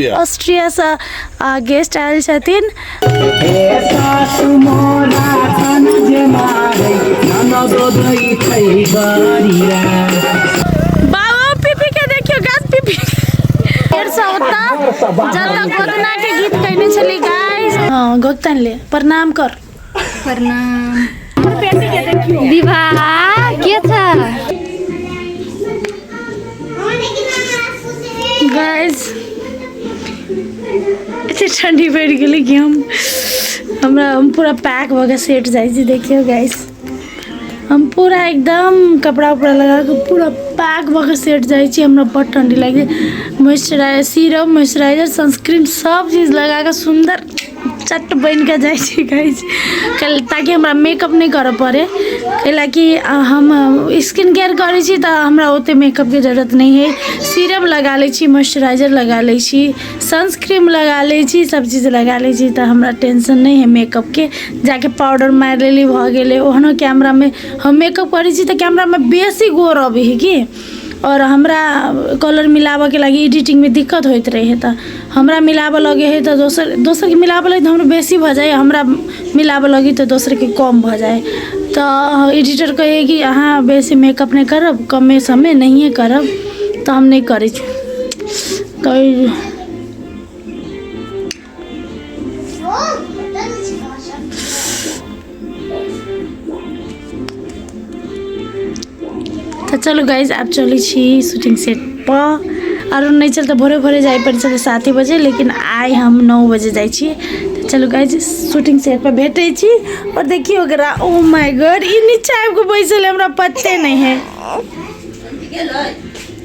Austria Austria से guest आयल छथिन बाबा पीपी के देखियो गाछ पीपी फेर से ओता जतऽ गोदना के गीत कहने छली गाइस हां गोदन ले प्रणाम कर प्रणाम विवाह के था गाइस एते ठंडी पड़ गेलै कि हम हमरा हम पूरा पैक भऽ के सेट जाइ छी देखियौ गाइस हम पूरा एकदम कपड़ा उपड़ा लगा के पूरा पैक भऽ के सेट जाइ छी हमरा बड़ ठंडी लागि मॉइस्चराइजर सीरम मॉइस्चराइजर सनस्क्रीन सब चीज लगा के सुंदर चट बनि कऽ जाइ छी कहै छी कैल- ताकि हमरा मेकअप नहि करऽ पड़ै कैलाकि अ, हम स्किन केयर करै छी तऽ हमरा ओतेक मेकअपके जरूरत नहि है सीरम लगा लै छी मॉइस्चराइजर लगा लै छी सनस्क्रीम लगा लै छी सब चीज लगा लै छी तऽ हमरा टेंशन नहि है मेकअपके जाके पाउडर मारि लेली भऽ गेलै ओहनो कैमरामे हम मेकअप करै छी तऽ कैमरामे बेसी गोर अबै है की आओर हमरा कलर मिलाबऽके लागी एडिटिंगमे दिक्कत होइत रहै तऽ हमरा मिलाबऽ लगै हइ तऽ दोसर दोसरके मिलाबऽ लगै हइ तऽ हमरा बेसी भऽ जाइ हइ हमरा मिलाबऽ लगै हइ तऽ दोसरके कम भऽ जाइ हइ तऽ एडिटर कहै हइ कि अहाँ बेसी मेकअप नहि करब कमे समे नहिये करब तऽ हम नहि करै छी तऽ तऽ चलू गाइज आब चलै छी शूटिंग सेट पर आओर नहि चल तऽ भोरे भोरे जाय पड़ै छलै साते बजे लेकिन आइ हम नओ बजे जाइ छी तऽ चलू गाइज शूटिंग सेट पर भेटै छी आओर देखियौ ओकरा ओ माय गॉड ई नीचा आबि कऽ बैसल है, हमरा पते नहि है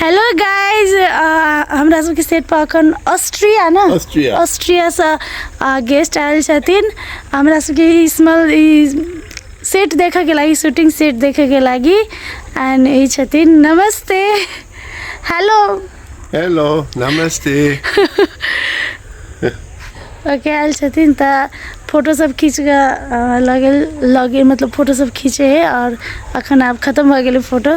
हेलो गाइज हमरा सबके सेट पर अखन ऑस्ट्रिया ना ऑस्ट्रिया। ऑस्ट्रिया से गेस्ट आयल छथिन हमरा सबके ई स्मल ई सेट देखे के लागी शूटिंग सेट देखे के लागी एंड ई छथिन नमस्ते हेलो हेलो नमस्ते ओके आयल छथिन तऽ फोटो सब खींच के अ, लगे लगे मतलब फोटो सब खींचे है और अखन आब खत्म भऽ गेलै फोटो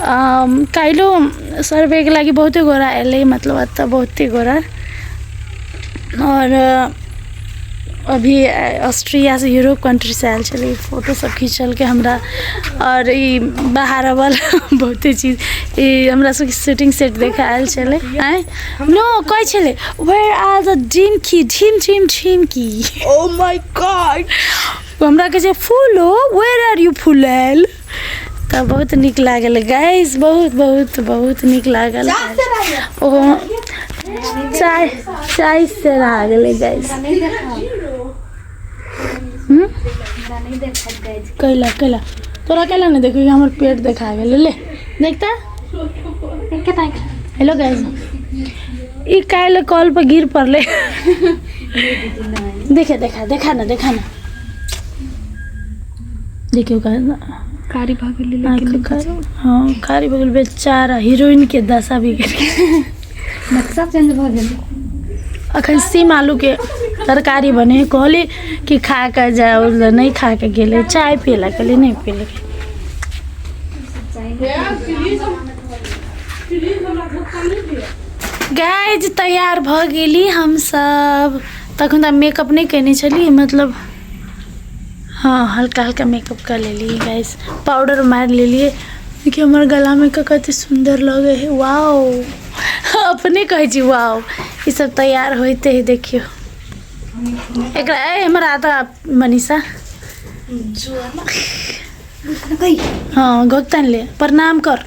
काल्हिओ सर्वेके लागि बहुते गोरा अएलै मतलब एतऽ बहुते गोरा आओर अभी ऑस्ट्रियासँ यूरोप कन्ट्रीसँ आएल छलै फोटोसब खिचलकै हमरा आओर ई बाहर अबल बहुते चीज ई हमरा सबके शूटिंग सेट देखा आएल छलै आँय नो कहै छलै वेयर आर द ड्रीम की झिम झिम झिम की ओ माय गॉड हमरा कहै छै फूलो वेयर आर यू फुलैल तऽ बहुत नीक लागल गाइस बहुत बहुत बहुत नीक लागल ओ चाय चाय से रहा गेलै गाइस हम्म? कैला कैला तोरा कैला नहीं देखबी हमर पेट देखा गेलै ले देखता हेलो गाइस ई काल्हि कॉल पर गिर पड़लै देखे देखा देखा ना देखा ना देखियौ गाइस कारी भऽ गेलै लेकिन आँखि कारी हँ कारी भऽ गेल बेचारा हीरोइन के दशा बिगड़ गेल नक्शा चेंज भऽ गेलै अखन सीम आलू के तरकारी बने कहली कि खा के जाओ ले नहीं खा के गेले चाय पियला कहली नहीं पियले गाइज तैयार भऽ गेली हमसब तखन तऽ मेकअप नहि केने छली मतलब हाँ हल्का हल्का मेकअप कर लेलिए गाइस पाउडर मार लेलिए देखि हमर गला में का कते सुंदर लगे है वाओ अपने कहे छी वाओ ई सब तैयार होते है देखियो एकरा ए हमर आधा मनीषा हाँ गोतन ले प्रणाम कर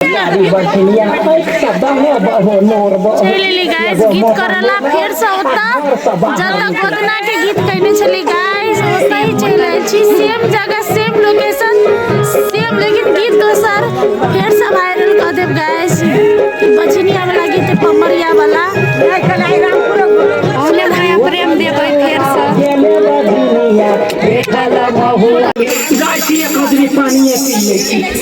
गाड़ी बढ़लिया पैसा दहो बहो नोर बहो चलि लेली गाइस गीत करला फेर से ओता जतऽ गोदना के गीत कइने छली गाइस ओतऽ ही चलि आइल छी सेम जगह सेम लोकेशन सेम लेकिन गीत दोसर फेर से वायरल कऽ देब गाइस बजनिया वाला गीत पमरिया वाला ओने माया प्रेम देबै फेर से गेले बढ़लिया देखल बहु गाय की एक आदमी पानी पी ले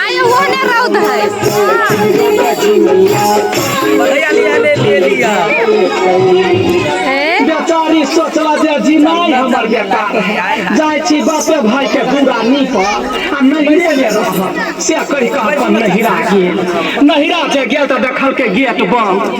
आयो वो ने रौद है बढ़िया लिया ले ले लिया हैं? बेचारी सोचला जे जिनाई हमर बेकार है जाय छी बापे भाई के पूरा नीप आ नहिरे ले रह से कहि कह अपन नहिरा गेल नहिरा जे गेल तऽ देखल के गेट बंद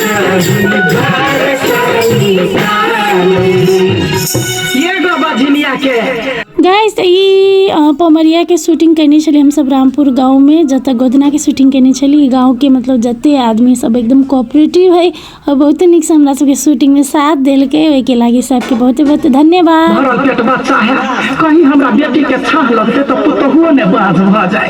एगो बझनिया के गाइस तऽ ई अ, पमरियाके शूटिंग कयने छलियै हमसभ रामपुर गाँवमे जतऽ गोदनाके शूटिंग कयने छलियै गाँवके मतलब जते आदमी सब एकदम कोऑपरेटिव है और बहुते नीकसँ हमरा सबके शूटिंगमे साथ देलकै ओहिके लागि सबके बहुते बहुते धन्यवाद भरल पेट बच्चा है कहीं हमरा बेटी के छाह लगते तो पुतहुओ ने बाज भ जाए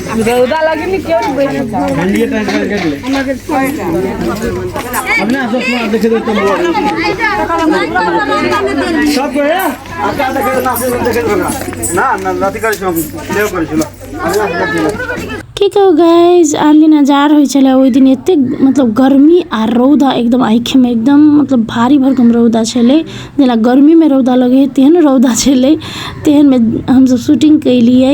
रौदा लगे नहीं क्यों नहीं बैठे ठंडी टाइम कर के ले अब ना सब सुना देखे दो तुम लोग सब को है आता देखे ना से देखे दो ना ना ना लाती कर छो ले कर छो की कहो गाइस आन दिन हजार होय छले ओय दिन एते मतलब गर्मी आ रौदा एकदम आंखे में एकदम मतलब भारी भरकम रौदा छले जेना गर्मी में रौदा लगे तेहन रौदा छले तेहन में हम सब शूटिंग कैलिए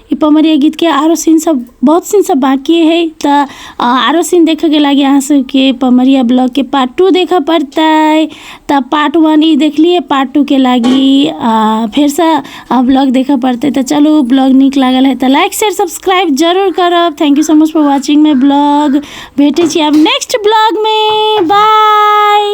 ई पमरिया गीतके आरो सीन सब बहुत सीन सब बाकी है तऽ अ, आरो सीन देखे के लागी अहाँ सबके पमरिया ब्लॉग के पार्ट टू देखे पड़तै तऽ पार्ट वन ई देखलिए पार्ट टू के लागी अ, फेर से ब्लॉग देखे पड़तै तऽ चलू ब्लॉग नीक लागल है तऽ लाइक शेयर सब्सक्राइब जरूर करब thank you so much for watching my blog भेटै छी आब नेक्स्ट ब्लॉग में बाय